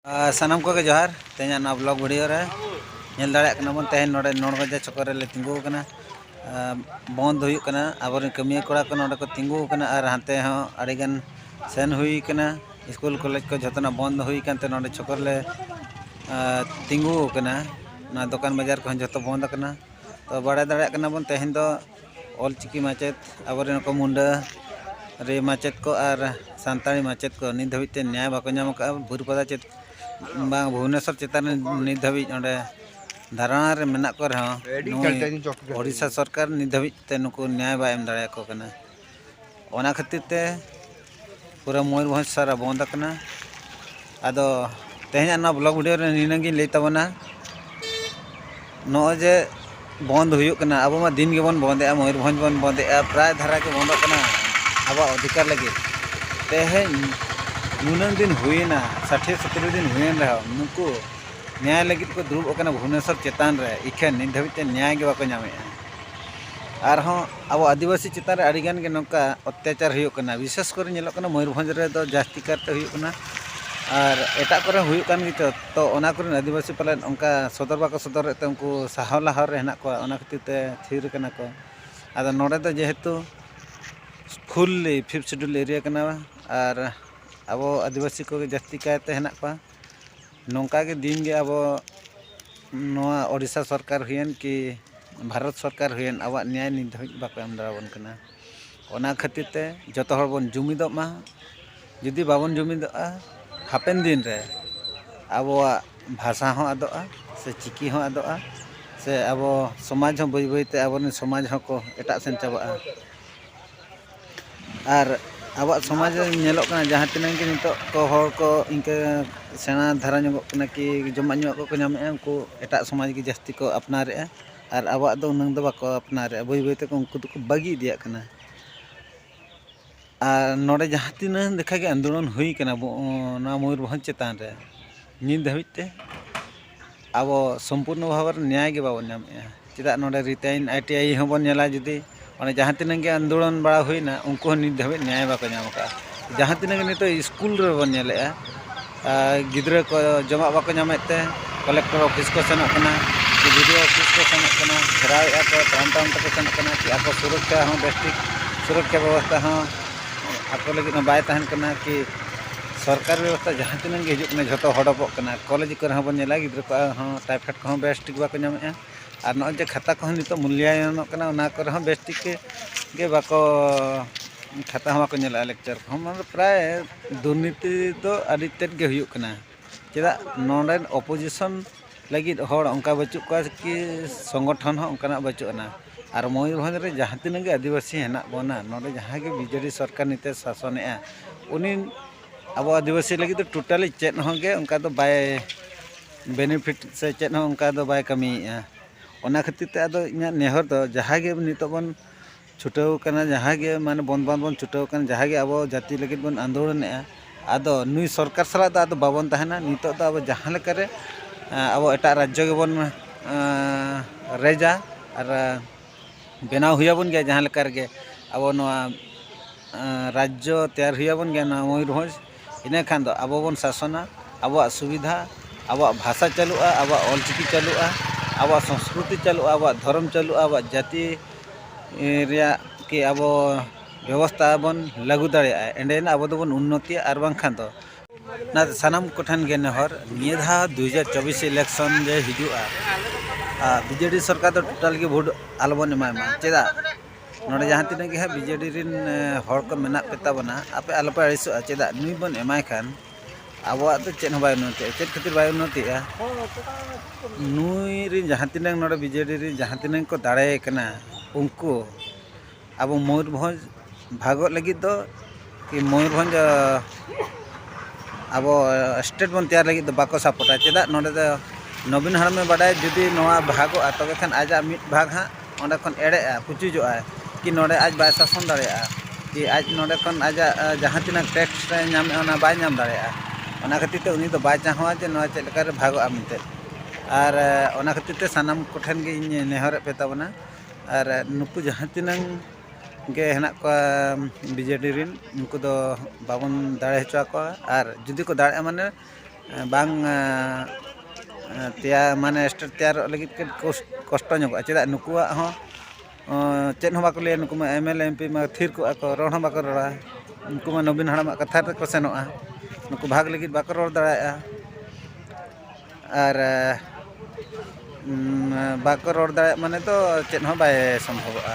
ᱥᱟᱱᱟᱢ ᱠᱚᱜᱮ ᱡᱚᱦᱟᱨ ᱛᱮᱦᱮᱧᱟᱜ ᱱᱚᱣᱟ ᱵᱞᱚᱜ ᱵᱷᱤᱰᱤᱭᱳ ᱨᱮ ᱧᱮᱞ ᱫᱟᱲᱮᱭᱟᱜ ᱠᱟᱱᱟ ᱵᱚᱱ ᱛᱮᱦᱮᱧ ᱱᱚᱰᱮ ᱱᱚᱲᱜᱚᱡᱟ ᱪᱚᱠᱚᱨ ᱨᱮᱞᱮ ᱛᱤᱸᱜᱩ ᱟᱠᱟᱱᱟ ᱵᱚᱱᱫ ᱦᱩᱭᱩᱜ ᱠᱟᱱᱟ ᱟᱵᱚᱨᱮᱱ ᱠᱟᱹᱢᱤᱭᱟᱹ ᱠᱚᱲᱟ ᱠᱚ ᱱᱚᱰᱮ ᱠᱚ ᱛᱤᱸᱜᱩ ᱟᱠᱟᱱᱟ ᱟᱨ ᱦᱟᱱᱛᱮ ᱦᱚᱸ ᱟᱹᱰᱤ ᱜᱟᱱ ᱥᱮᱱ ᱦᱩᱭ ᱟᱠᱟᱱᱟ ᱥᱠᱩᱞ ᱠᱚᱞᱮᱡᱽ ᱠᱚ ᱡᱷᱚᱛᱚᱱᱟᱜ ᱵᱚᱱᱫ ᱦᱩᱭ ᱟᱠᱟᱱ ᱛᱮ ᱱᱚᱰᱮ ᱪᱚᱠᱚᱨ ᱨᱮᱞᱮ ᱛᱤᱸᱜᱩ ᱟᱠᱟᱱᱟ ᱱᱚᱣᱟ ᱫᱚᱠᱟᱱ ᱵᱟᱡᱟᱨ ᱠᱚᱦᱚᱸ ᱡᱷᱚᱛᱚ ᱵᱚᱱᱫ ᱟᱠᱟᱱᱟ ᱛᱚ ᱵᱟᱲᱟᱭ ᱫᱟᱲᱮᱭᱟᱜ ᱠᱟᱱᱟ ᱵᱚᱱ ᱛᱮᱦᱮᱧ ᱫᱚ ᱚᱞᱪᱤᱠᱤ ᱢᱟᱪᱮᱫ ᱟᱵᱚᱨᱮᱱ ᱠᱚ ᱢᱩᱸᱰᱟᱹ ᱨᱮ ᱢᱟᱪᱮᱫ ᱠᱚ ᱟᱨ ᱥᱟᱱᱛᱟᱲᱤ ᱢᱟᱪᱮᱫ ᱠᱚ ᱱᱤᱛ ᱫᱷᱟᱹᱵᱤᱡ ᱛᱮ ᱱᱮᱭᱟᱭ ᱵᱟᱠᱚ ᱧᱟᱢ ᱟᱠᱟᱫᱼᱟ ᱵᱟᱹᱨᱤᱯᱟᱫᱟ ᱪᱮᱫ ᱵᱟᱝ ᱵᱷᱩᱵᱽᱱᱮᱥᱚᱨ ᱪᱮᱛᱟᱱ ᱨᱮ ᱱᱤᱛ ᱫᱷᱟᱹᱵᱤᱡ ᱚᱸᱰᱮ ᱫᱷᱟᱨᱚᱱᱟ ᱨᱮ ᱢᱮᱱᱟᱜ ᱠᱚ ᱨᱮᱦᱚᱸ ᱱᱩᱭ ᱳᱰᱤᱥᱟ ᱥᱚᱨᱠᱟᱨ ᱱᱤᱛ ᱫᱷᱟᱹᱵᱤᱡ ᱛᱮ ᱱᱩᱠᱩ ᱱᱮᱭᱟᱭ ᱵᱟᱭ ᱮᱢ ᱫᱟᱲᱮᱭᱟᱠᱚ ᱠᱟᱱᱟ ᱚᱱᱟ ᱠᱷᱟᱹᱛᱤᱨ ᱛᱮ ᱯᱩᱨᱟᱹ ᱢᱚᱭᱩᱨᱵᱷᱚᱸᱡᱽ ᱥᱟᱨᱟ ᱵᱚᱱᱫ ᱟᱠᱟᱱᱟ ᱟᱫᱚ ᱛᱮᱦᱮᱧᱟᱜ ᱱᱚᱣᱟ ᱵᱞᱚᱜᱽ ᱵᱷᱤᱰᱤᱭᱳ ᱨᱮ ᱱᱤᱱᱟᱹᱝ ᱜᱤᱧ ᱞᱟᱹᱭ ᱛᱟᱵᱚᱱᱟ ᱱᱚᱜᱼᱚᱭ ᱡᱮ ᱵᱚᱱᱫ ᱦᱩᱭᱩᱜ ᱠᱟᱱᱟ ᱟᱵᱚ ᱢᱟ ᱫᱤᱱ ᱜᱮᱵᱚᱱ ᱵᱚᱱᱫᱮᱜᱼᱟ ᱢᱚᱭᱩᱨᱵᱷᱚᱸᱡᱽ ᱵᱚᱱ ᱵᱚᱱᱫᱮᱜᱼᱟ ᱯᱨᱟᱭ ᱫᱷᱟᱨᱟ ᱜᱮ ᱵᱚᱱᱫᱚᱜ ᱠᱟᱱᱟ ᱟᱵᱚᱣᱟᱜ ᱚᱫᱷᱤᱠᱟᱨ ᱞᱟᱹᱜᱤᱫ ᱛᱮᱦᱮᱧ ᱱᱩᱱᱟᱹᱝ ᱫᱤᱱ ᱦᱩᱭᱮᱱᱟ ᱥᱟᱴᱷᱮ ᱥᱚᱛᱨᱚ ᱫᱤᱱ ᱦᱩᱭᱮᱱ ᱨᱮᱦᱚᱸ ᱱᱩᱠᱩ ᱱᱮᱭᱟᱭ ᱞᱟᱹᱜᱤᱫ ᱠᱚ ᱫᱩᱲᱩᱵ ᱟᱠᱟᱱᱟ ᱵᱷᱩᱵᱽᱱᱮᱥᱚᱨ ᱪᱮᱛᱟᱱ ᱨᱮ ᱤᱠᱷᱟᱹᱱ ᱱᱤᱛ ᱫᱷᱟᱹᱵᱤᱡ ᱛᱮ ᱱᱮᱭᱟᱭ ᱜᱮ ᱵᱟᱠᱚ ᱧᱟᱢᱮᱜᱼᱟ ᱟᱨᱦᱚᱸ ᱟᱵᱚ ᱟᱹᱫᱤᱵᱟᱹᱥᱤ ᱪᱮᱛᱟᱱ ᱨᱮ ᱟᱹᱰᱤ ᱜᱟᱱ ᱜᱮ ᱱᱚᱝᱠᱟ ᱚᱛᱛᱟᱪᱟᱨ ᱦᱩᱭᱩᱜ ᱠᱟᱱᱟ ᱵᱤᱥᱮᱥ ᱠᱚᱨᱮ ᱧᱮᱞᱚᱜ ᱠᱟᱱᱟ ᱢᱚᱭᱩᱨᱵᱷᱚᱸᱡᱽ ᱨᱮᱫᱚ ᱡᱟᱹᱥᱛᱤ ᱠᱟᱨᱛᱮ ᱦᱩᱭᱩᱜ ᱠᱟᱱᱟ ᱟᱨ ᱮᱴᱟᱜ ᱠᱚᱨᱮ ᱦᱚᱸ ᱦᱩᱭᱩᱜ ᱠᱟᱱ ᱜᱮᱪᱚ ᱛᱚ ᱚᱱᱟ ᱠᱚᱨᱮᱱ ᱟᱹᱫᱤᱵᱟᱹᱥᱤ ᱯᱟᱞᱮᱱ ᱚᱱᱠᱟ ᱥᱚᱫᱚᱨ ᱵᱟᱠᱚ ᱥᱚᱫᱚᱨᱮᱫ ᱛᱮ ᱩᱱᱠᱩ ᱥᱟᱦᱟᱣ ᱞᱟᱦᱟ ᱨᱮ ᱦᱮᱱᱟᱜ ᱠᱚᱣᱟ ᱚᱱᱟ ᱠᱷᱟᱹᱛᱤᱨ ᱛᱮ ᱛᱷᱤᱨ ᱠᱟᱱᱟ ᱠᱚ ᱟᱫᱚ ᱱᱚᱰᱮ ᱫᱚ ᱡᱮᱦᱮᱛᱩ ᱯᱷᱩᱞᱞᱤ ᱯᱷᱤᱯᱛᱷ ᱥᱤᱰᱩᱞ ᱮᱨᱤᱭᱟ ᱠᱟᱱᱟ ᱟᱨ ᱟᱵᱚ ᱟᱹᱫᱤᱵᱟᱹᱥᱤ ᱠᱚᱜᱮ ᱡᱟᱹᱥᱛᱤ ᱠᱟᱭᱛᱮ ᱦᱮᱱᱟᱜ ᱠᱚᱣᱟ ᱱᱚᱝᱠᱟ ᱜᱮ ᱫᱤᱱ ᱜᱮ ᱟᱵᱚ ᱱᱚᱣᱟ ᱳᱰᱤᱥᱟ ᱥᱚᱨᱠᱟᱨ ᱦᱩᱭᱮᱱ ᱠᱤ ᱵᱷᱟᱨᱚᱛ ᱥᱚᱨᱠᱟᱨ ᱦᱩᱭᱮᱱ ᱟᱵᱚᱣᱟᱜ ᱱᱮᱭᱟᱭ ᱱᱤᱛ ᱫᱷᱟᱹᱵᱤᱡ ᱵᱟᱠᱚ ᱮᱢ ᱫᱟᱲᱮ ᱟᱵᱚᱱ ᱠᱟᱱᱟ ᱚᱱᱟ ᱠᱷᱟᱹᱛᱤᱨ ᱛᱮ ᱡᱚᱛᱚ ᱦᱚᱲ ᱵᱚᱱ ᱡᱩᱢᱤᱫᱚᱜ ᱢᱟ ᱡᱩᱫᱤ ᱵᱟᱵᱚᱱ ᱡᱩᱢᱤᱫᱚᱜᱼᱟ ᱦᱟᱯᱮᱱ ᱫᱤᱱ ᱨᱮ ᱟᱵᱚᱣᱟᱜ ᱵᱷᱟᱥᱟ ᱦᱚᱸ ᱟᱫᱚᱜᱼᱟ ᱥᱮ ᱪᱤᱠᱤ ᱦᱚᱸ ᱟᱫᱚᱜᱼᱟ ᱥᱮ ᱟᱵᱚ ᱥᱚᱢᱟᱡᱽ ᱦᱚᱸ ᱵᱟᱹᱭ ᱵᱟᱹᱭ ᱛᱮ ᱟᱵᱚ ᱨᱮᱱ ᱥᱚᱢᱟᱡᱽ ᱦᱚᱸᱠᱚ ᱮᱴᱟᱜ ᱥᱮᱱ ᱪᱟᱵᱟᱜᱼᱟ ᱟᱨ ᱟᱵᱚᱣᱟᱜ ᱥᱚᱢᱟᱡᱽ ᱨᱮ ᱧᱮᱞᱚᱜ ᱠᱟᱱᱟ ᱡᱟᱦᱟᱸ ᱛᱤᱱᱟᱹᱜ ᱜᱮ ᱱᱤᱛᱚᱜ ᱠᱚ ᱦᱚᱲ ᱠᱚ ᱤᱱᱠᱟᱹ ᱥᱮᱬᱟ ᱫᱷᱟᱨᱟ ᱧᱚᱜᱚᱜ ᱠᱟᱱᱟ ᱠᱤ ᱡᱚᱢᱟᱜ ᱧᱩᱣᱟᱜ ᱠᱚᱠᱚ ᱧᱟᱢᱮᱜᱼᱟ ᱩᱱᱠᱩ ᱮᱴᱟᱜ ᱥᱚᱢᱟᱡᱽ ᱜᱮ ᱡᱟᱹᱥᱛᱤ ᱠᱚ ᱟᱯᱱᱟᱨᱮᱜᱼᱟ ᱟᱨ ᱟᱵᱚᱣᱟᱜ ᱫᱚ ᱩᱱᱟᱹᱝ ᱫᱚ ᱵᱟᱠᱚ ᱟᱯᱱᱟᱨᱮᱜᱼᱟ ᱵᱟᱹᱭ ᱵᱟᱹᱭ ᱛᱮᱠᱚ ᱩᱱᱠᱩ ᱫᱚᱠᱚ ᱵᱟᱹᱜᱤ ᱤᱫᱤᱭᱟᱜ ᱠᱟᱱᱟ ᱟᱨ ᱱᱚᱰᱮ ᱡᱟᱦᱟᱸ ᱛᱤᱱᱟᱹᱝ ᱞᱮᱠᱷᱟᱜᱮ ᱟᱱᱫᱳᱞᱚᱱ ᱦᱩᱭ ᱠᱟᱱᱟ ᱱᱚᱣᱟ ᱢᱚᱭᱩᱨᱵᱷᱚᱸᱡᱽ ᱪᱮᱛᱟᱱ ᱨᱮ ᱱᱤᱛ ᱫᱷᱟᱹᱵᱤᱡ ᱛᱮ ᱟᱵᱚ ᱥᱚᱢᱯᱩᱨᱱᱚ ᱵᱷᱟᱵᱮ ᱨᱮ ᱱᱮᱭᱟᱭ ᱜᱮ ᱵᱟᱵᱚᱱ ᱧᱟᱢᱮᱜᱼᱟ ᱪᱮᱫᱟᱜ ᱱᱚᱰᱮ ᱨᱤᱛ ᱟᱭᱤᱱ ᱟᱭ ᱴᱤ ᱟᱭ ᱦᱚᱸᱵᱚᱱ ᱧᱮᱞᱟ ᱡᱩᱫᱤ ᱚᱱᱮ ᱡᱟᱦᱟᱸ ᱛᱤᱱᱟᱹᱜ ᱜᱮ ᱟᱱᱫᱳᱞᱚᱱ ᱵᱟᱲᱟ ᱦᱩᱭᱱᱟ ᱩᱱᱠᱩ ᱦᱚᱸ ᱱᱤᱛ ᱫᱷᱟᱹᱵᱤᱡ ᱱᱮᱭᱟᱭ ᱵᱟᱠᱚ ᱧᱟᱢ ᱠᱟᱜᱼᱟ ᱡᱟᱦᱟᱸ ᱛᱤᱱᱟᱹᱜ ᱜᱮ ᱱᱤᱛᱚᱜ ᱥᱠᱩᱞ ᱨᱮᱵᱚᱱ ᱧᱮᱞᱮᱜᱼᱟ ᱜᱤᱫᱽᱨᱟᱹ ᱠᱚ ᱡᱚᱢᱟᱜ ᱵᱟᱠᱚ ᱧᱟᱢᱮᱫ ᱛᱮ ᱠᱚᱞᱮᱠᱴᱚᱨ ᱚᱯᱷᱤᱥ ᱠᱚ ᱥᱮᱱᱚᱜ ᱠᱟᱱᱟ ᱥᱮ ᱵᱤ ᱰᱤ ᱳ ᱚᱯᱷᱤᱥ ᱠᱚ ᱥᱮᱱᱚᱜ ᱠᱟᱱᱟ ᱜᱷᱮᱨᱟᱣᱮᱜᱼᱟ ᱠᱚ ᱛᱟᱭᱚᱢ ᱛᱟᱭᱚᱢ ᱛᱮᱠᱚ ᱥᱮᱱᱚᱜ ᱠᱟᱱᱟ ᱠᱤ ᱟᱠᱚ ᱥᱩᱨᱚᱠᱠᱷᱟ ᱦᱚᱸ ᱵᱮᱥ ᱴᱷᱤᱠ ᱥᱩᱨᱚᱠᱠᱷᱟ ᱵᱮᱵᱚᱥᱛᱷᱟ ᱦᱚᱸ ᱟᱠᱚ ᱞᱟᱹᱜᱤᱫ ᱦᱚᱸ ᱵᱟᱭ ᱛᱟᱦᱮᱱ ᱠᱟᱱᱟ ᱠᱤ ᱥᱚᱨᱠᱟᱨᱤ ᱵᱮᱵᱚᱥᱛᱟ ᱡᱟᱦᱟᱸ ᱛᱤᱱᱟᱹᱜ ᱜᱮ ᱦᱤᱡᱩᱜ ᱠᱟᱱᱟ ᱡᱷᱚᱛᱚ ᱦᱚᱰᱚᱵᱚᱜ ᱠᱟᱱᱟ ᱠᱚᱞᱮᱡᱽ ᱠᱚᱨᱮ ᱦᱚᱸᱵᱚᱱ ᱧᱮᱞᱟ ᱜᱤᱫᱽᱨᱟᱹ ᱠᱚᱣᱟᱜ ᱦᱚᱸ ᱴᱟᱭᱯᱷᱚᱭᱮᱰ ᱠᱚᱦᱚᱸ ᱵᱮᱥ ᱴᱷᱤᱠ ᱵᱟᱠᱚ ᱧᱟᱢᱮᱜᱼᱟ ᱟᱨ ᱱᱚᱜᱼᱚᱭ ᱡᱮ ᱠᱷᱟᱛᱟ ᱠᱚᱦᱚᱸ ᱱᱤᱛᱚᱜ ᱢᱩᱞᱞᱟᱭᱚᱱᱚᱜ ᱠᱟᱱᱟ ᱚᱱᱟ ᱠᱚᱨᱮ ᱦᱚᱸ ᱵᱮᱥ ᱴᱷᱤᱠ ᱜᱮ ᱵᱟᱠᱚ ᱠᱷᱟᱛᱟ ᱦᱚᱸ ᱵᱟᱠᱚ ᱧᱮᱞᱮᱜᱼᱟ ᱞᱮᱠᱪᱟᱨ ᱠᱚᱦᱚᱸ ᱢᱟᱱᱮ ᱯᱨᱟᱭ ᱫᱩᱨᱱᱤᱛᱤ ᱫᱚ ᱟᱹᱰᱤ ᱛᱮᱫ ᱜᱮ ᱦᱩᱭᱩᱜ ᱠᱟᱱᱟ ᱪᱮᱫᱟᱜ ᱱᱚᱰᱮᱱ ᱚᱯᱚᱡᱤᱥᱚᱱ ᱞᱟᱹᱜᱤᱫ ᱦᱚᱲ ᱚᱱᱠᱟ ᱵᱟᱹᱪᱩᱜ ᱠᱚᱣᱟ ᱠᱤ ᱥᱚᱝᱜᱚᱴᱷᱚᱱ ᱦᱚᱸ ᱚᱱᱠᱟᱱᱟᱜ ᱵᱟᱹᱪᱩᱜ ᱟᱱᱟ ᱟᱨ ᱢᱚᱭᱩᱨᱵᱷᱚᱸᱡᱽ ᱨᱮ ᱡᱟᱦᱟᱸ ᱛᱤᱱᱟᱹᱜ ᱜᱮ ᱟᱹᱫᱤᱵᱟᱹᱥᱤ ᱦᱮᱱᱟᱜ ᱵᱚᱱᱟ ᱱᱚᱰᱮ ᱡᱟᱦᱟᱸᱭ ᱜᱮ ᱵᱤᱡᱮᱰᱤ ᱥᱚᱨᱠᱟᱨ ᱱᱤᱛᱚᱜ ᱮ ᱥᱟᱥᱚᱱᱮᱜᱼᱟ ᱩᱱᱤ ᱟᱵᱚ ᱟᱹᱫᱤᱵᱟᱹᱥᱤ ᱞᱟᱹᱜᱤᱫ ᱫᱚ ᱴᱳᱴᱟᱞᱤ ᱪᱮᱫ ᱦᱚᱸ ᱜᱮ ᱚᱱᱠᱟ ᱫᱚ ᱵᱟᱭ ᱵᱮᱱᱤᱯᱷᱤᱴ ᱥᱮ ᱪᱮᱫ ᱦᱚᱸ ᱚᱱᱠᱟ ᱫᱚ ᱵᱟᱭ ᱠᱟᱹᱢᱤᱭᱮᱜᱼᱟ ᱚᱱᱟ ᱠᱷᱟᱹᱛᱤᱨ ᱛᱮ ᱟᱫᱚ ᱤᱧᱟᱹᱜ ᱱᱮᱦᱚᱨ ᱫᱚ ᱡᱟᱦᱟᱸᱭ ᱜᱮ ᱱᱤᱛᱚᱜ ᱵᱚᱱ ᱪᱷᱩᱴᱟᱹᱣ ᱟᱠᱟᱱᱟ ᱡᱟᱦᱟᱸᱭ ᱜᱮ ᱢᱟᱱᱮ ᱵᱚᱱᱫᱽ ᱵᱟᱝ ᱵᱚᱱ ᱪᱷᱩᱴᱟᱹᱣ ᱟᱠᱟᱱᱟ ᱡᱟᱦᱟᱸᱭ ᱜᱮ ᱟᱵᱚ ᱡᱟᱹᱛᱤ ᱞᱟᱹᱜᱤᱫ ᱵᱚᱱ ᱟᱱᱫᱳᱞᱚᱱᱮᱜᱼᱟ ᱟᱫᱚ ᱱᱩᱭ ᱥᱚᱨᱠᱟᱨ ᱥᱟᱞᱟᱜ ᱫᱚ ᱟᱫᱚ ᱵᱟᱵᱚᱱ ᱛᱟᱦᱮᱱᱟ ᱱᱤᱛᱚᱜ ᱫᱚ ᱟᱵᱚ ᱡᱟᱦᱟᱸ ᱞᱮᱠᱟ ᱨᱮ ᱟᱵᱚ ᱮᱴᱟᱜ ᱨᱟᱡᱽᱡᱚ ᱜᱮᱵᱚᱱ ᱨᱮᱡᱟ ᱟᱨ ᱵᱮᱱᱟᱣ ᱦᱩᱭ ᱟᱵᱚᱱ ᱜᱮᱭᱟ ᱡᱟᱦᱟᱸ ᱞᱮᱠᱟ ᱨᱮᱜᱮ ᱟᱵᱚ ᱱᱚᱣᱟ ᱨᱟᱡᱽᱡᱚ ᱛᱮᱭᱟᱨ ᱦᱩᱭ ᱟᱵᱚᱱ ᱜᱮᱭᱟ ᱱᱚᱣᱟ ᱢᱚᱭᱩᱨᱵᱷᱚᱸᱡᱽ ᱤᱱᱟᱹ ᱠᱷᱟᱱ ᱫᱚ ᱟᱵᱚ ᱵᱚᱱ ᱥᱟᱥᱚᱱᱟ ᱟᱵᱚᱣᱟᱜ ᱥᱩᱵᱤᱫᱷᱟ ᱟᱵᱚᱣᱟᱜ ᱵᱷᱟᱥᱟ ᱪᱟᱹᱞᱩᱜᱼᱟ ᱟᱵᱚᱣᱟᱜ ᱚᱞ ᱪᱤᱠᱤ ᱪᱟᱹᱞᱩᱜᱼᱟ ᱟᱵᱚᱣᱟᱜ ᱥᱚᱥᱠᱨᱤᱛᱤ ᱪᱟᱹᱞᱩᱜᱼᱟ ᱟᱵᱚᱣᱟᱜ ᱫᱷᱚᱨᱚᱢ ᱪᱟᱹᱞᱩᱜᱼᱟ ᱟᱵᱚᱣᱟᱜ ᱡᱟᱹᱛᱤ ᱨᱮᱭᱟᱜ ᱠᱤ ᱟᱵᱚ ᱵᱮᱵᱚᱥᱛᱷᱟ ᱵᱚᱱ ᱞᱟᱹᱜᱩ ᱫᱟᱲᱮᱭᱟᱜᱼᱟ ᱮᱸᱰᱮ ᱟᱱᱟᱜ ᱟᱵᱚ ᱫᱚᱵᱚᱱ ᱩᱱᱱᱚᱛᱤᱭᱟ ᱟᱨ ᱵᱟᱝᱠᱷᱟᱱ ᱫᱚ ᱚᱱᱟᱛᱮ ᱥᱟᱱᱟᱢ ᱠᱚᱴᱷᱮᱱ ᱜᱮ ᱱᱮᱦᱚᱨ ᱱᱤᱭᱟᱹ ᱫᱷᱟᱣ ᱫᱩ ᱦᱟᱡᱟᱨ ᱪᱚᱵᱵᱤᱥ ᱤᱞᱮᱠᱥᱚᱱ ᱨᱮ ᱦᱤᱡᱩᱜᱼᱟ ᱟᱨ ᱵᱤᱡᱮᱰᱤ ᱥᱚᱨᱠᱟᱨ ᱫᱚ ᱴᱳᱴᱟᱞ ᱜᱮ ᱵᱷᱳᱴ ᱟᱞᱚ ᱵᱚᱱ ᱮᱢᱟᱭ ᱢᱟ ᱪᱮᱫᱟᱜ ᱱᱚᱰᱮ ᱡᱟᱦᱟᱸ ᱛᱤᱱᱟᱹᱜ ᱜᱮ ᱦᱟᱸᱜ ᱵᱤᱡᱮᱰᱤ ᱨᱮᱱ ᱦᱚᱲ ᱠᱚ ᱢᱮᱱᱟᱜ ᱯᱮ ᱛᱟᱵᱚᱱᱟ ᱟᱯᱮ ᱟᱞᱚ ᱯᱮ ᱟᱹᱲᱤᱥᱚᱜᱼᱟ ᱪᱮᱫᱟᱜ ᱱᱩᱭ ᱵᱚᱱ ᱮᱢᱟᱭ ᱠᱷᱟᱱ ᱟᱵᱚᱣᱟᱜ ᱫᱚ ᱪᱮᱫ ᱦᱚᱸ ᱵᱟᱭ ᱩᱱᱱᱚᱛᱤᱜᱼᱟ ᱪᱮᱫ ᱠᱷᱟᱹᱛᱤᱨ ᱵᱟᱭ ᱩᱱᱱᱚᱛᱤᱜᱼᱟ ᱱᱩᱭ ᱨᱮᱱ ᱡᱟᱦᱟᱸ ᱛᱤᱱᱟᱹᱜ ᱱᱚᱰᱮ ᱵᱤᱡᱮᱰᱤ ᱨᱮᱱ ᱡᱟᱦᱟᱸ ᱛᱤᱱᱟᱹᱜ ᱠᱚ ᱫᱟᱲᱮᱭ ᱠᱟᱱᱟ ᱩᱱᱠᱩ ᱟᱵᱚ ᱢᱚᱭᱩᱨᱵᱷᱚᱸᱡᱽ ᱵᱷᱟᱜᱚᱜ ᱞᱟᱹᱜᱤᱫ ᱫᱚ ᱠᱤ ᱢᱚᱭᱩᱨᱵᱷᱚᱸᱡᱽ ᱟᱵᱚ ᱥᱴᱮᱴ ᱵᱚᱱ ᱛᱮᱭᱟᱨ ᱞᱟᱹᱜᱤᱫ ᱫᱚ ᱵᱟᱠᱚ ᱥᱟᱯᱳᱨᱴᱟ ᱪᱮᱫᱟᱜ ᱱᱚᱰᱮ ᱫᱚ ᱱᱚᱵᱤᱱ ᱦᱟᱲᱟᱢᱮ ᱵᱟᱰᱟᱭᱟ ᱡᱩᱫᱤ ᱱᱚᱣᱟ ᱵᱷᱟᱜᱚᱜᱼᱟ ᱛᱚᱵᱮ ᱠᱷᱟᱱ ᱟᱡᱟᱜ ᱢᱤᱫ ᱵᱷᱟᱜᱽ ᱦᱟᱸᱜ ᱚᱸᱰᱮ ᱠᱷᱚᱱ ᱮᱲᱮᱜᱼᱟ ᱯᱩᱪᱩᱡᱚᱜᱼᱟᱭ ᱠᱤ ᱱᱚᱰᱮ ᱟᱡ ᱵᱟᱭ ᱥᱟᱥᱚᱱ ᱫᱟᱲᱮᱭᱟᱜᱼᱟ ᱠᱤ ᱟᱡ ᱱᱚᱰᱮ ᱠᱷᱚᱱ ᱟᱡᱟᱜ ᱡᱟᱦᱟᱸ ᱛᱤᱱᱟᱹᱜ ᱴᱮᱠᱥ ᱧᱟᱢᱮᱜᱼᱟ ᱚᱱᱟ ᱵᱟᱭ ᱧᱟᱢ ᱫᱟᱲᱮᱭᱟᱜᱼᱟ ᱚᱱᱟ ᱠᱷᱟᱹᱛᱤᱨ ᱛᱮ ᱩᱱᱤ ᱫᱚ ᱵᱟᱭ ᱪᱟᱦᱟᱣᱟ ᱡᱮ ᱱᱚᱣᱟ ᱪᱮᱫ ᱞᱮᱠᱟᱨᱮ ᱵᱷᱟᱜᱚᱜᱼᱟ ᱢᱮᱱᱛᱮ ᱟᱨ ᱚᱱᱟ ᱠᱷᱟᱹᱛᱤᱨ ᱛᱮ ᱥᱟᱱᱟᱢ ᱠᱚᱴᱷᱮᱱ ᱜᱮ ᱤᱧ ᱱᱮᱦᱚᱨᱮᱫ ᱯᱮ ᱛᱟᱵᱚᱱᱟ ᱟᱨ ᱱᱩᱠᱩ ᱡᱟᱦᱟᱸ ᱛᱤᱱᱟᱹᱜ ᱜᱮ ᱦᱮᱱᱟᱜ ᱠᱚᱣᱟ ᱵᱤᱡᱮᱰᱤ ᱨᱮᱱ ᱩᱱᱠᱩ ᱫᱚ ᱵᱟᱵᱚᱱ ᱫᱟᱲᱮ ᱦᱚᱪᱚ ᱟᱠᱚᱣᱟ ᱟᱨ ᱡᱩᱫᱤ ᱠᱚ ᱫᱟᱲᱮᱜᱼᱟ ᱢᱟᱱᱮ ᱵᱟᱝ ᱛᱮᱭᱟᱨ ᱢᱟᱱᱮ ᱥᱴᱮᱴ ᱛᱮᱭᱟᱨᱚᱜ ᱞᱟᱹᱜᱤᱫ ᱛᱮ ᱠᱚᱥᱴᱚ ᱧᱚᱜᱚᱜᱼᱟ ᱪᱮᱫᱟᱜ ᱱᱩᱠᱩᱣᱟᱜ ᱦᱚᱸ ᱪᱮᱫ ᱦᱚᱸ ᱵᱟᱠᱚ ᱞᱟᱹᱭᱟ ᱱᱩᱠᱩ ᱢᱟ M L A M P ᱢᱟ ᱛᱷᱤᱨ ᱠᱚᱜᱼᱟ ᱠᱚ ᱨᱚᱲ ᱦᱚᱸ ᱵᱟᱠᱚ ᱨᱚᱲᱟ ᱩᱱᱠᱩ ᱢᱟ ᱱᱚᱵᱤᱱ ᱦᱟᱲᱟᱢᱟᱜ ᱠᱟᱛᱷᱟ ᱨᱮᱠᱚ ᱥᱮᱱᱚᱜᱼᱟ ᱱᱩᱠᱩ ᱵᱷᱟᱜᱽ ᱞᱟᱹᱜᱤᱫ ᱵᱟᱠᱚ ᱨᱚᱲ ᱫᱟᱲᱮᱭᱟᱜᱼᱟ ᱟᱨ ᱵᱟᱠᱚ ᱨᱚᱲ ᱫᱟᱲᱮᱭᱟᱜ ᱢᱟᱱᱮ ᱫᱚ ᱪᱮᱫ ᱦᱚᱸ ᱵᱟᱭ ᱥᱚᱢᱵᱷᱚᱵᱚᱜᱼᱟ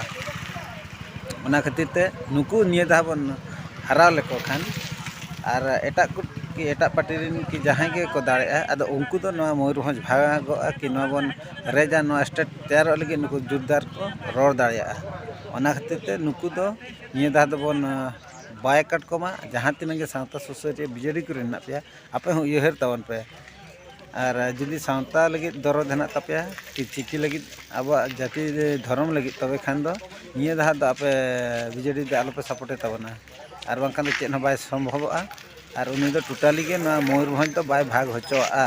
ᱚᱱᱟ ᱠᱷᱟᱹᱛᱤᱨ ᱛᱮ ᱱᱩᱠᱩ ᱱᱤᱭᱟᱹ ᱫᱷᱟᱣ ᱵᱚᱱ ᱦᱟᱨᱟᱣ ᱞᱮᱠᱚ ᱠᱷᱟᱱ ᱟᱨ ᱮᱴᱟᱜ ᱠᱚ ᱠᱤ ᱮᱴᱟᱜ ᱯᱟᱨᱴᱤ ᱨᱮᱱ ᱠᱤ ᱡᱟᱦᱟᱸᱭ ᱜᱮᱠᱚ ᱫᱟᱲᱮᱜᱼᱟ ᱟᱫᱚ ᱩᱱᱠᱩ ᱫᱚ ᱱᱚᱣᱟ ᱢᱚᱭᱩᱨᱵᱷᱚᱸᱡᱽ ᱵᱷᱟᱜᱚᱜᱼᱟ ᱠᱤ ᱱᱚᱣᱟ ᱵᱚᱱ ᱨᱮᱡᱟ ᱱᱚᱣᱟ ᱥᱴᱮᱴ ᱛᱮᱭᱟᱨᱚᱜ ᱞᱟᱹᱜᱤᱫ ᱱᱩᱠᱩ ᱡᱳᱨᱫᱟᱨ ᱠᱚ ᱨᱚᱲ ᱫᱟᱲᱮᱭᱟᱜᱼᱟ ᱚᱱᱟ ᱠᱷᱟᱹᱛᱤᱨ ᱛᱮ ᱱᱩᱠᱩ ᱫᱚ ᱱᱤᱭᱟᱹ ᱫᱷᱟᱣ ᱫᱚᱵᱚᱱ ᱵᱟᱭᱠᱟᱴ ᱠᱚᱢᱟ ᱡᱟᱦᱟᱸ ᱛᱤᱱᱟᱹᱜ ᱜᱮ ᱥᱟᱶᱛᱟ ᱥᱩᱥᱟᱹᱨᱤᱭᱟᱹ ᱵᱤᱡᱮᱰᱤ ᱠᱚᱨᱮᱱ ᱢᱮᱱᱟᱜ ᱯᱮᱭᱟ ᱟᱯᱮ ᱦᱚᱸ ᱩᱭᱦᱟᱹᱨ ᱛᱟᱵᱚᱱ ᱯᱮ ᱟᱨ ᱡᱩᱫᱤ ᱥᱟᱶᱛᱟ ᱞᱟᱹᱜᱤᱫ ᱫᱚᱨᱚᱫ ᱦᱮᱱᱟᱜ ᱛᱟᱯᱮᱭᱟ ᱠᱤ ᱪᱤᱠᱤ ᱞᱟᱹᱜᱤᱫ ᱟᱵᱚᱣᱟᱜ ᱡᱟᱹᱛᱤ ᱫᱷᱚᱨᱚᱢ ᱞᱟᱹᱜᱤᱫ ᱛᱚᱵᱮ ᱠᱷᱟᱱ ᱫᱚ ᱱᱤᱭᱟᱹ ᱫᱷᱟᱣ ᱫᱚ ᱟᱯᱮ ᱵᱤᱡᱮᱰᱤ ᱫᱚ ᱟᱞᱚᱯᱮ ᱥᱟᱯᱳᱨᱴᱮᱫ ᱛᱟᱵᱚᱱᱟ ᱟᱨ ᱵᱟᱝᱠᱷᱟᱱ ᱫᱚ ᱪᱮᱫ ᱦᱚᱸ ᱵᱟᱭ ᱥᱚᱢᱵᱷᱚᱵᱚᱜᱼᱟ ᱟᱨ ᱩᱱᱤ ᱫᱚ ᱴᱳᱴᱟᱞᱤ ᱜᱮ ᱱᱚᱣᱟ ᱢᱚᱭᱩᱨᱵᱷᱚᱸᱡᱽ ᱫᱚ ᱵᱟᱭ ᱵᱷᱟᱜᱽ ᱦᱚᱪᱚᱣᱟᱜᱼᱟ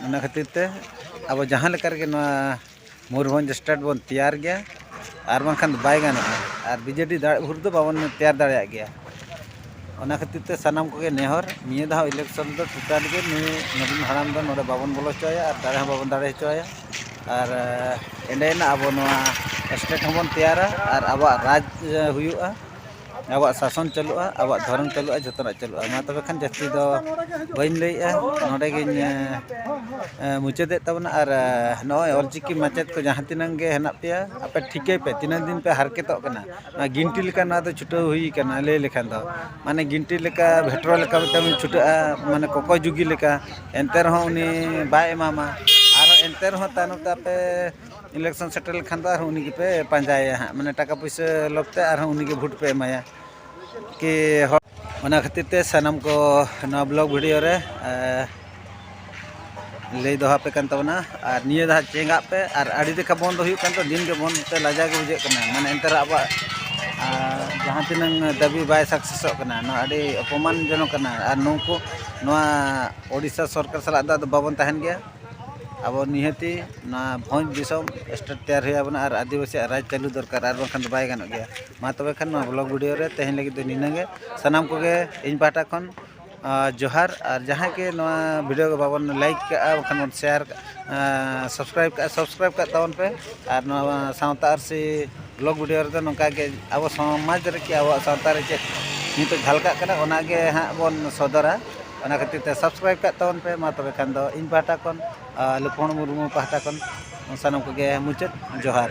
ᱚᱱᱟ ᱠᱷᱟᱹᱛᱤᱨ ᱛᱮ ᱟᱵᱚ ᱡᱟᱦᱟᱸ ᱞᱮᱠᱟ ᱨᱮᱜᱮ ᱱᱚᱣᱟ ᱢᱚᱭᱩᱨᱵᱷᱚᱸᱡᱽ ᱥᱴᱮᱴ ᱵᱚᱱ ᱛᱮᱭᱟᱨ ᱜᱮᱭᱟ ᱟᱨ ᱵᱟᱝᱠᱷᱟᱱ ᱫᱚ ᱵᱟᱭ ᱜᱟᱱᱚᱜᱼᱟ ᱟᱨ ᱵᱤᱡᱮᱰᱤ ᱫᱟᱲᱮᱜ ᱵᱷᱳᱨ ᱫᱚ ᱵᱟᱵᱚᱱ ᱛᱮᱭᱟᱨ ᱫᱟᱲᱮᱭᱟᱜ ᱜᱮᱭᱟ ᱚᱱᱟ ᱠᱷᱟᱹᱛᱤᱨ ᱛᱮ ᱥᱟᱱᱟᱢ ᱠᱚᱜᱮ ᱱᱮᱦᱚᱨ ᱱᱤᱭᱟᱹ ᱫᱷᱟᱣ ᱤᱞᱮᱠᱥᱚᱱ ᱫᱚ ᱴᱳᱴᱟᱞ ᱜᱮ ᱱᱩᱭ ᱱᱚᱵᱤᱱ ᱦᱟᱲᱟᱢ ᱫᱚ ᱱᱚᱰᱮ ᱵᱟᱵᱚᱱ ᱵᱚᱞᱚ ᱦᱚᱪᱚᱣᱟᱭᱟ ᱟᱨ ᱫᱟᱲᱮ ᱦᱚᱸ ᱵᱟᱵᱚᱱ ᱫᱟᱲᱮ ᱦᱚᱪᱚᱣᱟᱭᱟ ᱟᱨ ᱮᱸᱰᱮᱭᱮᱱᱟ ᱟᱵᱚ ᱱᱚᱣᱟ ᱥᱴᱮᱴ ᱦᱚᱸᱵᱚᱱ ᱛᱮᱭᱟᱨᱟ ᱟᱨ ᱟᱵᱚᱣᱟᱜ ᱨᱟᱡᱽ ᱦᱩᱭᱩᱜᱼᱟ ᱟᱵᱚᱣᱟᱜ ᱥᱟᱥᱚᱱ ᱪᱟᱹᱞᱩᱜᱼᱟ ᱟᱵᱚᱣᱟᱜ ᱫᱷᱚᱨᱚᱢ ᱪᱟᱹᱞᱩᱜᱼᱟ ᱡᱚᱛᱚᱱᱟᱜ ᱪᱟᱹᱞᱩᱜᱼᱟ ᱢᱟ ᱛᱚᱵᱮ ᱠᱷᱟᱱ ᱡᱟᱹᱥᱛᱤ ᱫᱚ ᱵᱟᱹᱧ ᱞᱟᱹᱭᱮᱫᱼᱟ ᱱᱚᱰᱮ ᱜᱤᱧ ᱢᱩᱪᱟᱹᱫᱮᱫ ᱛᱟᱵᱚᱱᱟ ᱟᱨ ᱱᱚᱜᱼᱚᱭ ᱚᱞ ᱪᱤᱠᱤ ᱢᱟᱪᱮᱫ ᱠᱚ ᱡᱟᱦᱟᱸ ᱛᱤᱱᱟᱹᱜ ᱜᱮ ᱦᱮᱱᱟᱜ ᱯᱮᱭᱟ ᱟᱯᱮ ᱴᱷᱤᱠᱟᱹᱭ ᱯᱮ ᱛᱤᱱᱟᱹᱜ ᱫᱤᱱ ᱯᱮ ᱦᱟᱨᱠᱮᱛᱚᱜ ᱠᱟᱱᱟ ᱱᱚᱣᱟ ᱜᱤᱱᱴᱤ ᱞᱮᱠᱟ ᱱᱚᱣᱟ ᱫᱚ ᱪᱷᱩᱴᱟᱹᱣ ᱦᱩᱭ ᱠᱟᱱᱟ ᱞᱟᱹᱭ ᱞᱮᱠᱷᱟᱱ ᱫᱚ ᱢᱟᱱᱮ ᱜᱤᱱᱴᱤ ᱞᱮᱠᱟ ᱵᱷᱮᱴᱨᱚ ᱞᱮᱠᱟ ᱢᱤᱫᱴᱟᱝ ᱵᱤᱱ ᱪᱷᱩᱴᱟᱹᱜᱼᱟ ᱢᱟᱱᱮ ᱠᱚᱠᱚᱭ ᱡᱩᱜᱤ ᱞᱮᱠᱟ ᱮᱱᱛᱮ ᱨᱮᱦᱚᱸ ᱩᱱᱤ ᱵᱟᱭ ᱮᱢᱟᱢᱟ ᱟᱨ ᱮᱱᱛᱮ ᱨᱮᱦᱚᱸ ᱛᱟᱭᱱᱚᱢ ᱛᱮ ᱟᱯᱮ ᱤᱞᱮᱠᱥᱚᱱ ᱥᱮᱴᱮᱨ ᱞᱮᱠᱷᱟᱱ ᱫᱚ ᱟᱨᱦᱚᱸ ᱩᱱᱤ ᱜᱮᱯᱮ ᱯᱟᱸᱡᱟᱭᱮᱭᱟ ᱦᱟᱸᱜ ᱢᱟᱱᱮ ᱴᱟᱠᱟ ᱯᱩᱭᱥᱟᱹ ᱞᱚᱵᱽ ᱛᱮ ᱟᱨᱦᱚᱸ ᱩᱱᱤ ᱜᱮ ᱵᱷᱳᱴ ᱯᱮ ᱮᱢᱟᱭᱟ ᱠᱤ ᱦᱚᱲ ᱚᱱᱟ ᱠᱷᱟᱹᱛᱤᱨ ᱛᱮ ᱥᱟᱱᱟᱢ ᱠᱚ ᱱᱚᱣᱟ ᱵᱞᱚᱜ ᱵᱷᱤᱰᱤᱭᱳ ᱨᱮ ᱞᱟᱹᱭ ᱫᱚᱦᱚ ᱟᱯᱮ ᱠᱟᱱ ᱛᱟᱵᱚᱱᱟ ᱟᱨ ᱱᱤᱭᱟᱹ ᱫᱷᱟᱣ ᱪᱮᱸᱜᱟᱜ ᱯᱮ ᱟᱨ ᱟᱹᱰᱤ ᱞᱮᱠᱟ ᱵᱚᱱᱫᱚ ᱦᱩᱭᱩᱜ ᱠᱟᱱ ᱛᱚ ᱫᱤᱱ ᱜᱮ ᱵᱚᱱᱫᱚ ᱛᱮ ᱞᱟᱡᱟᱣ ᱜᱮ ᱵᱩᱡᱷᱟᱹᱜ ᱠᱟᱱᱟ ᱢᱟᱱᱮ ᱮᱱᱛᱮ ᱨᱮᱦᱚᱸ ᱟᱵᱚᱣᱟᱜ ᱡᱟᱦᱟᱸ ᱛᱤᱱᱟᱹᱝ ᱫᱟᱹᱵᱤ ᱵᱟᱭ ᱥᱟᱠᱥᱮᱥᱚᱜ ᱠᱟᱱᱟ ᱱᱚᱣᱟ ᱟᱹᱰᱤ ᱚᱯᱚᱢᱟᱱ ᱡᱚᱱᱚᱠ ᱠᱟᱱᱟ ᱟᱨ ᱱᱩᱠᱩ ᱱᱚᱣᱟ ᱳᱰᱤᱥᱟ ᱥᱚᱨᱠᱟᱨ ᱥᱟᱞᱟᱜ ᱫᱚ ᱟᱫᱚ ᱵᱟᱵᱚᱱ ᱛᱟᱦᱮᱱ ᱜᱮᱭᱟ ᱟᱵᱚ ᱱᱤᱦᱟᱹᱛᱤ ᱱᱚᱣᱟ ᱵᱷᱚᱸᱡᱽ ᱫᱤᱥᱚᱢ ᱥᱴᱮᱴ ᱛᱮᱭᱟᱨ ᱦᱩᱭ ᱟᱵᱚᱱᱟ ᱟᱨ ᱟᱹᱫᱤᱵᱟᱹᱥᱤᱭᱟᱜ ᱨᱟᱡᱽ ᱪᱟᱹᱞᱩ ᱫᱚᱨᱠᱟᱨ ᱟᱨ ᱵᱟᱝᱠᱷᱟᱱ ᱫᱚ ᱵᱟᱭ ᱜᱟᱱᱚᱜ ᱜᱮᱭᱟ ᱢᱟ ᱛᱚᱵᱮ ᱠᱷᱟᱱ ᱱᱚᱣᱟ ᱵᱞᱚᱜᱽ ᱵᱷᱤᱰᱭᱳ ᱨᱮ ᱛᱮᱦᱮᱧ ᱞᱟᱹᱜᱤᱫ ᱫᱚ ᱱᱤᱱᱟᱹᱜ ᱜᱮ ᱥᱟᱱᱟᱢ ᱠᱚᱜᱮ ᱤᱧ ᱯᱟᱦᱴᱟ ᱠᱷᱚᱱ ᱡᱚᱦᱟᱨ ᱟᱨ ᱡᱟᱦᱟᱸᱭ ᱜᱮ ᱱᱚᱣᱟ ᱵᱷᱤᱰᱭᱳ ᱜᱮ ᱵᱟᱵᱚᱱ ᱞᱟᱹᱭᱤᱠ ᱠᱟᱜᱼᱟ ᱵᱟᱠᱷᱟᱱ ᱵᱚᱱ ᱥᱮᱭᱟᱨ ᱠᱟᱜᱼᱟ ᱥᱟᱵᱥᱠᱨᱟᱭᱤᱵᱽ ᱠᱟᱜᱼᱟ ᱥᱟᱵᱥᱠᱨᱟᱭᱤᱵᱽ ᱠᱟᱜ ᱛᱟᱵᱚᱱ ᱯᱮ ᱟᱨ ᱱᱚᱣᱟ ᱥᱟᱶᱛᱟ ᱟᱹᱨᱥᱤ ᱵᱞᱚᱜᱽ ᱵᱷᱤᱰᱭᱳ ᱨᱮᱫᱚ ᱱᱚᱝᱠᱟ ᱜᱮ ᱟᱵᱚ ᱥᱚᱢᱟᱡᱽ ᱨᱮ ᱪᱮᱫ ᱟᱵᱚᱣᱟᱜ ᱥᱟᱶᱛᱟ ᱨᱮ ᱪᱮᱫ ᱱᱤᱛᱚᱜ ᱡᱷᱟᱞᱠᱟᱜ ᱠᱟᱱᱟ ᱚᱱᱟᱜᱮ ᱦᱟᱸᱜ ᱵᱚᱱ ᱥᱚᱫᱚᱨᱟ ᱚᱱᱟ ᱠᱷᱟᱹᱛᱤᱨ ᱛᱮ ᱥᱟᱵᱥᱠᱨᱟᱭᱤᱵᱽ ᱠᱟᱜ ᱛᱟᱵᱚᱱ ᱯᱮ ᱢᱟ ᱛᱚᱵᱮ ᱠᱷᱟᱱ ᱫᱚ ᱤᱧ ᱯᱟᱦᱴᱟ ᱠᱷᱚᱱ ᱟᱨ ᱞᱚᱠᱠᱷᱚᱱ ᱢᱩᱨᱢᱩ ᱯᱟᱦᱴᱟ ᱠᱷᱚᱱ ᱥᱟᱱᱟᱢ ᱠᱚᱜᱮ ᱢᱩᱪᱟᱹᱫ ᱡᱚᱦᱟᱨ